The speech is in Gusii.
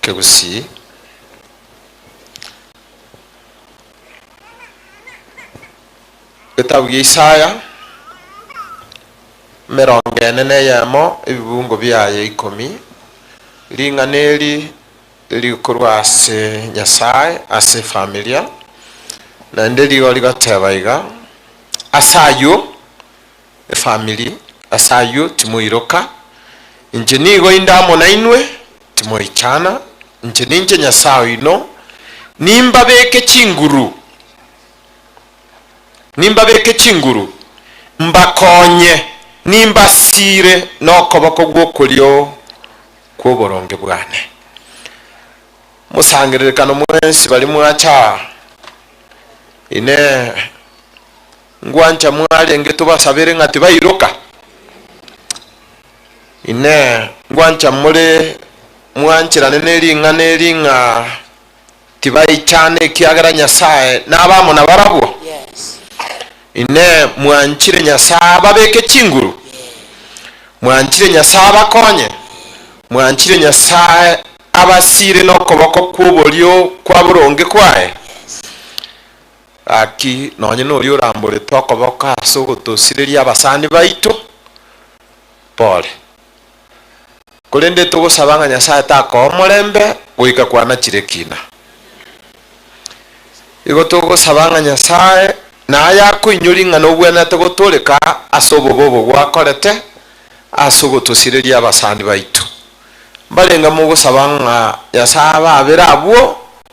Kegusii. Getabu gia Isaya, emerongo ene na eyemo, ebibungo biaye ikomi. Ring'ana eri rikorwa ase Nyasae ase efamilia, naende rigo rigoteba iga, Ase ayio, efamiri, ase ayio timoiroka, inche nigo inde amo nainwe, timoichana, inche ninche Nyasae oino, nimbabeke chinguru, nimbabeke chinguru, mbakonye, nimbasiire nokoboko gw'okorio kw'oboronge bwane. Mosangererekano mwensi baria mwacha aa, Inee! Ngwancha mwarenge tobasabere ng'a tibairoka? Inee, ngwancha more mwancherane ne ring'ana eri ng'a tibaichana ekiagera Nyasae nabe amo nabarabwo? Inee, mwanchire Nyasae ababeke chinguru? Mwanchire Nyasae abakonye? Mwanchire Nyasae abasiire nokoboko kw'oborio kwa boronge kwaye? Gaki nonye noria oramboretwe okoboko ase ogotosireria abasani baito, pole. Korende togosaba ng'a Nyasae takoe omorembe goika kwanachire kina. Igo togosaba ng'a Nyasae naye akoinyori ng'a nobwenerete gotoreka ase obobe obo gwakorete ase ogotosireria abasani baito. Mbarenge mogosaba ng'a Nyasae ababere abwo